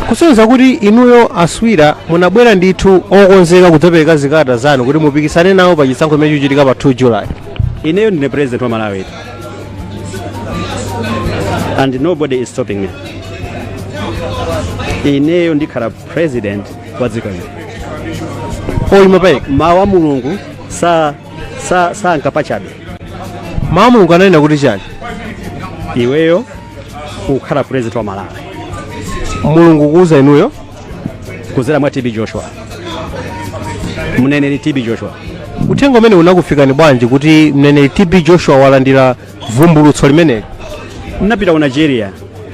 kusonyeza kuti inuyo aswira munabwera ndithu okonzeka kudzapereka zikalata zanu kuti mupikisane nawo pa chisankho chimene chikuchitika pa 2 july ineyo ndine president wa malawi and nobody is stopping me ineyo ndikhala president wa dziko lino oyima payeka mawu a mulungu sa- sa- sanka pachabe mawu a mulungu ananena kuti chani iweyo kukhala president wa malawi mulungu kuuza inuyo kuzera mwa tb joshua mneneri tb joshua uthenga umenewu unakufikani bwanji kuti mneneri tb joshua walandira vumbulutso limeneli ndinapita ku nigeria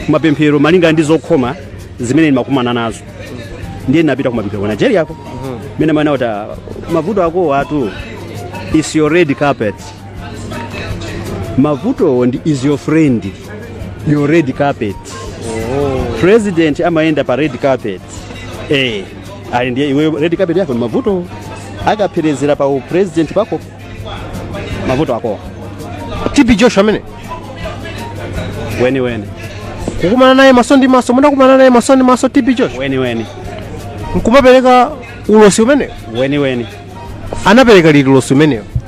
kumapemphero malinga ndi zokhoma zimene ndimakumana nazo ndiye ndinapita kumapemphero ku nigeria ko mmene amanena kuti ah, mavuto akowatu is your red carpet mavutowo ndi is your friend your red carpet president amayenda pa red carpet eh ali ndiye iwe red carpet yako ndi mavuto akapherezera pa upresident pako mavuto ako tb joshua ameneyo weniweni kukumana naye maso ndi maso munakumana naye maso ndi maso tb joshua weniweni nkumapereka ulosi umenewo weniweni anapereka liti ulosi umenewo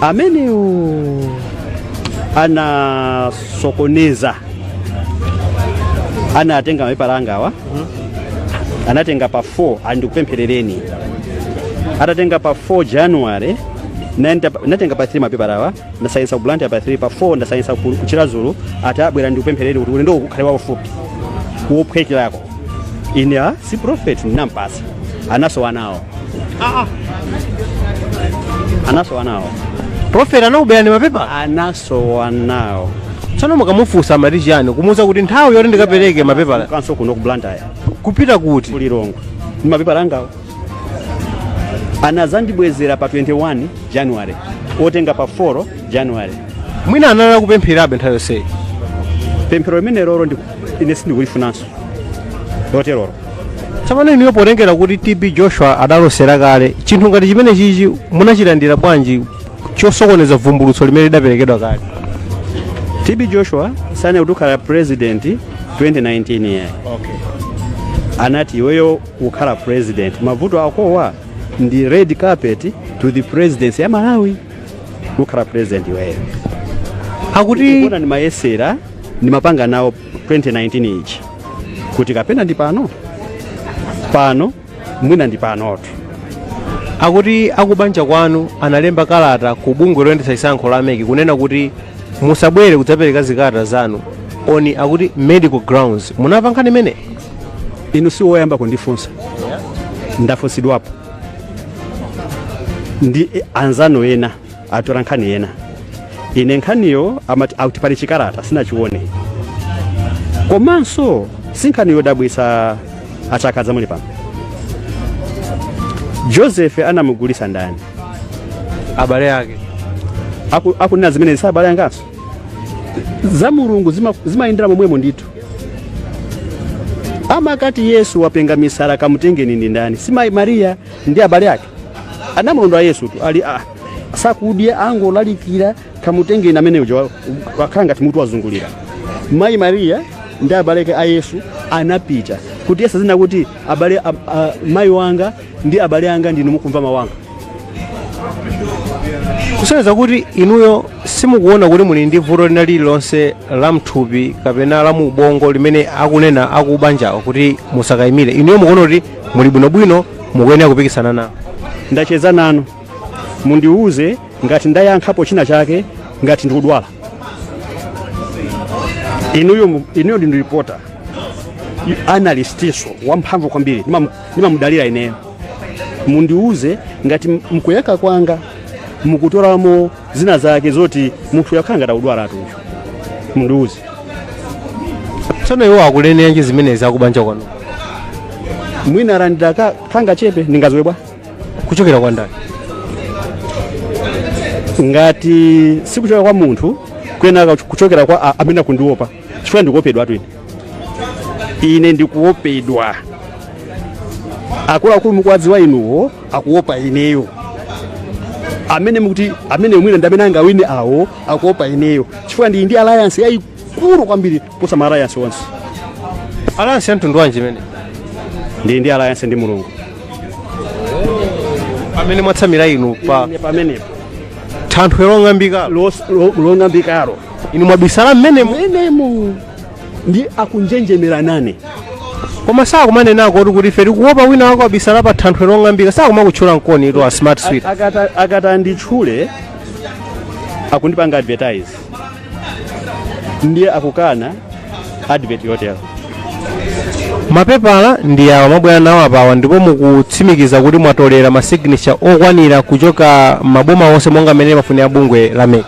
amenewo anasokoneza anatenga mapepala angawa anatenga pa 4 andikupempherereni atatenga pa 4 january naenda- natenga pa 3 mapepalawa ndasayinisa ku blantyre pa 3 pa 4 ndasayinisa ku ku chiradzulu atabwera ali ndikupempherereni kuti ulendo ukhale waufupi wophwekerako ine a si prophet ndinampatsa anasowa nawo anasowa nawo prophet anakuberani mapepala anasowa nawo tsono mukamufunsa amati chiyani kumuuza kuti nthawi yoti ndikapereke mapepala kanso kuno ku blantyre kupita kuti ku lilongwe ndi mapepala angawo anadzandibwezera pa 21 january otenga pa 4 january mwina anali kupempherabe nthawi yonseyi pemphero limenelolo ndi- ine sindikulifunanso loterolo tsopano inuyo potengera kuti tb joshua adalosera kale chinthu ngati chimenechichi munachilandira bwanji chosokoneza vumbulutso limene lidaperekedwa kale tb joshua sananene kuti ukhala president 2019 yayi anati iweyo ukhala president mavuto akowa ndi red carpet to the presidency ya malawi ukhala president iweyo akuti kunali ndimayesera ndimapanga nawo 2019 ichi kuti kapena ndi pano pano mwina ndi panotu akuti akubanja kwanu analemba kalata ku bungwe loyendetsa chisankho la mec kunena kuti musabwere kudzapereka zikalata zanu on akuti medical grounds munamva nkhani imene inu si woyamba kundifunsa ndafunsidwapo ndi anzanu ena atola nkhani yena ine nkhaniyo amati akuti pali chikalata sinachione komanso si nkhani yodabwitsa a Chakaza muli pano joseph anamugulisa ndani abale ake Aku- akunena zimene si abale anga nso za mulungu zima- zimayendera momwemo ndithu amati yesu wapenga misala kamutengeni ndi ndani si mayi mariya ndi abale ake anamulondola yesutu ali ah, sakudya angolalikira kamutengeni amene uja wa- wakhala ngati mutu wazungulira mayi mariya ndi abale ake a yesu anapita kuti yesu azinena kuti abale a, a, mayi wanga ndi abale anga ndinu mukumva mawu anga kusonyeza kuti inuyo simukuona kuti muli ndi vuto lina lililonse la mthupi kapena la mu ubongo limene akunena akubanjawo kuti musakayimire inuyo mukuona kuti muli bwinobwino mukuyenera kupikisana nawo ndacheza nanu mundiwuze ngati ndayankhapo china chake ngati ndikudwala inuyo mu- inuyo ndi reporter analystinso wamphamvu kwambiri Ndimam- ndimamudalira ineyo mundiwuze ngati mukuyankha kwanga mukutoramo zina zake zoti munthu uyu akhala ngati akudwalatu uyu mundiuze tsono iwo akuneneranji zimenezi akubanja kwanu mwina alandira ka- kangachepe ndingadziwe bwanji kuchokera kwa ndani ngati sikuchokera kwa munthu kuyenera kuchokera kwa a- amene akundiopa chifukwa ndikuopedwa twini ine ndikuopedwa akuluakulu mukuwadziwa inuyo akuopa ineyo amene mukuti amene mwina ndi amene angawine awo akuopa ineyo chifukwa ndili ndi alliance yayikulu kwambiri kuposa ma alliance onse alliance ya mtundu wanji imene ndili ndi alliance ndi mulungu pamene mwatsamira inu pa Ine pamenepo thanthwe long'ambika lo- lo- long'ambikalo inu mwabisala mmenemomenemo ndi akunjenjemera nane koma sakumanenako kuti kuti ife tikuopa wina wake wabisala pa thanthwe long'ambika sakumakutchula mkoni ito a smart sweet Akata- akata nditchule akundipanga advertise ndiye akukana advert yotero mapepala ndi awa mwabwera nawo apawa ndipo mukutsimikiza kuti mwatolera masignature okwanira kuchoka maboma onse monga mmene amafunira bungwe la mec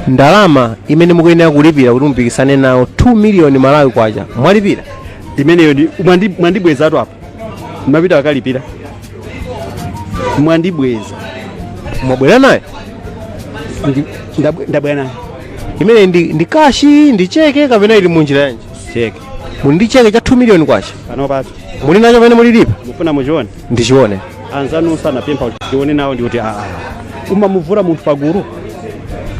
ndalama imene mukuyenera kulipira kuti mupikisane nawo 2 miliyoni malawi kwacha mwalipira imeneyo mwandi- mwandibwezatu apa mmapita akalipira mwandibweza mwabwera nayo Ndi- ndabwe- ndabwera nayo imeneyo ndi, ndi kashi ndi cheke kapena ili munjira yanji cheke muli ndi cheke cha 2 miliyoni kwacha pano papo muli nacho pamene mulilipa mufuna muchione ndichione anzanu sanapempha kuti tione nawo ndikuti aa umamuvula munthu pagulu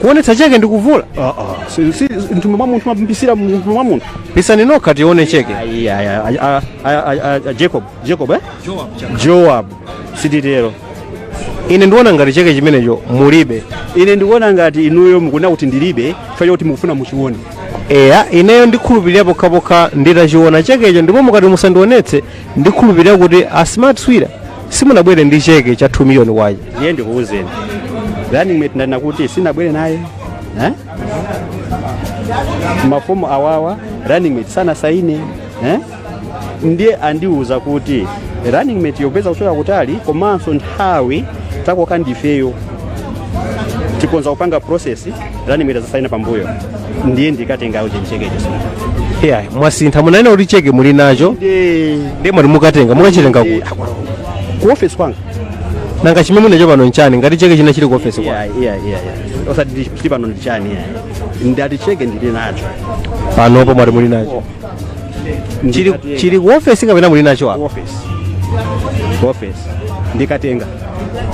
kuonetsa cheke ndikuvula aa si- si- mthumba mwa munthu mapisira mthumba mwa munthu pisani nokha tione cheke Ayi, ayi, ayi, a- a- a- a- a- joab joab eh? joab sititero ine ndikuona ngati cheke chimenecho mulibe ine ndikuona ngati inuyo mukunena kuti ndilibe chifukwa chakuti mukufuna muchione eya ineyo ndikhulupirira pokhapokha nditachiona chekecho ndipo mukati musandionetse ndikhulupirira kuti a smart swira simunabwere ndi cheke cha 2 miliyoni kwacha ndiye ndikuwuzeni running mate ndanena kuti sindinabwere naye eh? mafomu awawa running mate sanasaine eh? ndiye andiwuza kuti running mate yompeza kuchoka kutali komanso nthawi takoka ndifeyo tikonza kupanga process running mate azasaina pambuyo ndiye ndikatenga uje chekecho yeah mwasintha munanena kuti cheke muli nacho ndiye mwati mukatenga mukachitenga kuti ku office kwanga nanga chimene muli nacho pano nchani ngati cheke china chili ku office kwa yeah yeah yeah yeah. osati ndi- ndi pano ndi chani yeah. ndati cheke ndili nacho panopo mwati muli nacho chili Ndikatenga. chili ku office kapena muli nacho apa office office ndikatenga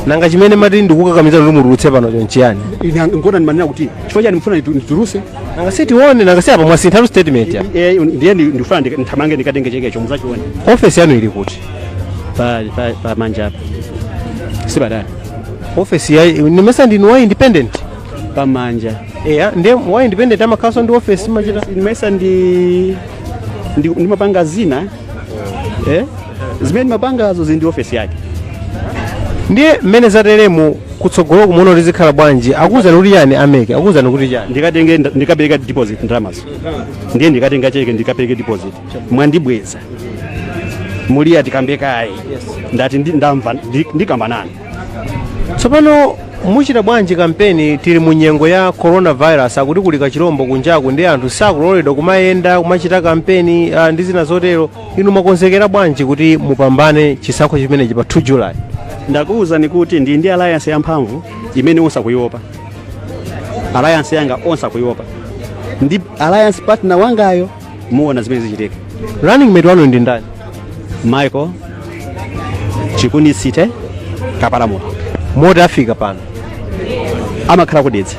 nanga chimene mati ndikukakamiza kuti mutulutse panocho nchiyani Ine ngona ndimanena kuti chifukwa chani mfuna nditu- nditulutse nanga sitione nanga si apa mwasinthatu statement ya Eh, ndiye ndi- ndifuna ndika- ndithamange ndikatenge chekecho muzachione office yanu ili kuti pa pa- pa manja apa sipatali office ya nimesa ndinu wa independent pa manja eya nde wa independent amakhalanso ndi ofesi mmachita nimesa ndi ndi- ndimapanga zina eh? zimene ndimapangazo zili ndi ofesi yake ndiye mmene zateremu kutsogolo mukuona kuti zikhala bwanji akuwuzani kuti chani a MEC akuwuzani kuti chani ndikatenge ndikapereka deposit ndalamazo ndiye ndikatenga cheke ndikapereke deposit mwandibweza muliya tikambe kaye ndati ndi- ndamva ndi- ndikambanani tsopano muchita bwanji kampeni tili mu nyengo ya coronavirus akuti kuli kachilombo kunjaku ndi anthu sakuloledwa kumayenda kumachita kampeni ah, ndi zina zotero inu mwakonzekera bwanji kuti mupambane chisankho chimenechi pa 2 july ndakuwuzani kuti ndi ndi alliance yamphamvu imene onse akuiopa alliance yanga onse akuiopa ndi alliance partner wangayo muona zimene zichitika running mate wanu ndi ndani michael chikunisite kapalamula moti afika pano amakhala ku Dedza